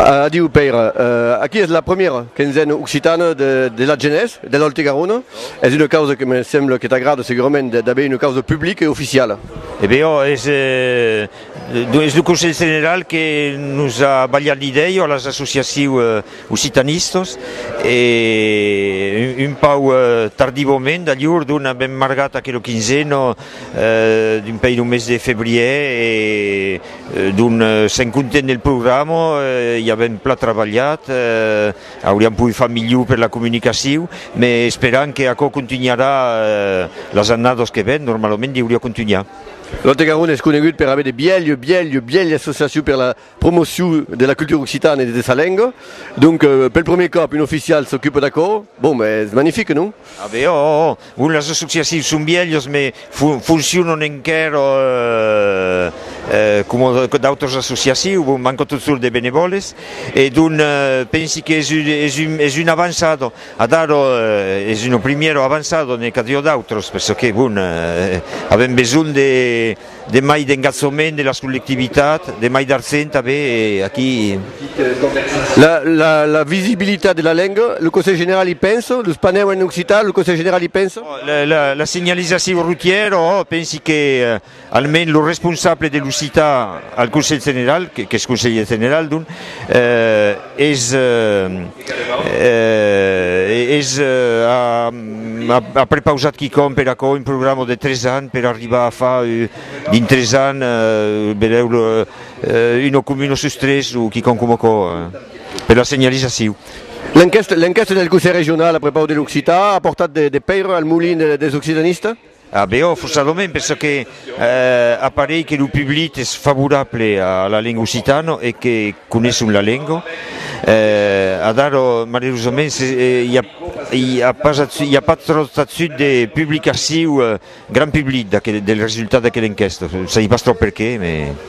Adiu Pèire, aquí es la premiera quinzena occitana de l'Atgenés de l'Òlte Garona, es una causa que me sembla que t'agrada segurament d'aver una causa publica e oficiala. E ben ò, es lo Conselh General que nos a balhat l'idèia ò las associaciu occitanistas e un pauc tardivament, d'aljor dona benmargat aquela quinzena, d'un pei lo mes de febrièr e donc sèm contents del programa, i avèm plan travalhat, auriam pogut far milhor per la comunicacion, me esperam que aquò contunharà las annadas que ven, normalament deuriá contunhar. Lòt e Garonne es conegut per aver de bièlh, bièlh, bièlh associacion per la Promocion de la cultura occitana e de sa lenga, donc pel premier còp un oficial s'ocupa d'aquò, bon es magnific, non? A veure, òò, òò, bon las associatius son vièlhas mai foncionan enquèra coma d'autras associatius, bon mancan totjorn de benevòles e donc pensi qu'es es una avançada, adara es una primièra avançada, n'ai qu'a dire d'autras perçò que bon avèm besonh de De mai d'engaçament de las collectivitats, de mai d'arsen tanben e aquí. La visibilitat de la lenga, lo Conselh General i pensa? Los panèus en occitan, lo Conselh General i pensa? La signalizacion routièra, òo, pensi que almens lo responsable de l'occitan al Conselh General, qu'es Conselhier General donc, es. Es a prepausat quicòm per aquò, un programa de tres ans per arribar a far dins tres ans, belèu, una comuna sus tres o quicòm coma aquò, per la senhalizacion. L'enquèsta del Conselh Regional a prepaus de l'occitan a portat de pèira al molin des occitanistas? A Beòf o Salomèn, per çò que aparei que lo public es favorable a la lenga occitana e que coneisson la lenga. Adara, malerosament, se i a i a pas athut, i a pas tròt athut de publicaciu grand public d'aquel, del resultat d'aquela enquèsta. Sai pas tròp perqué, mais.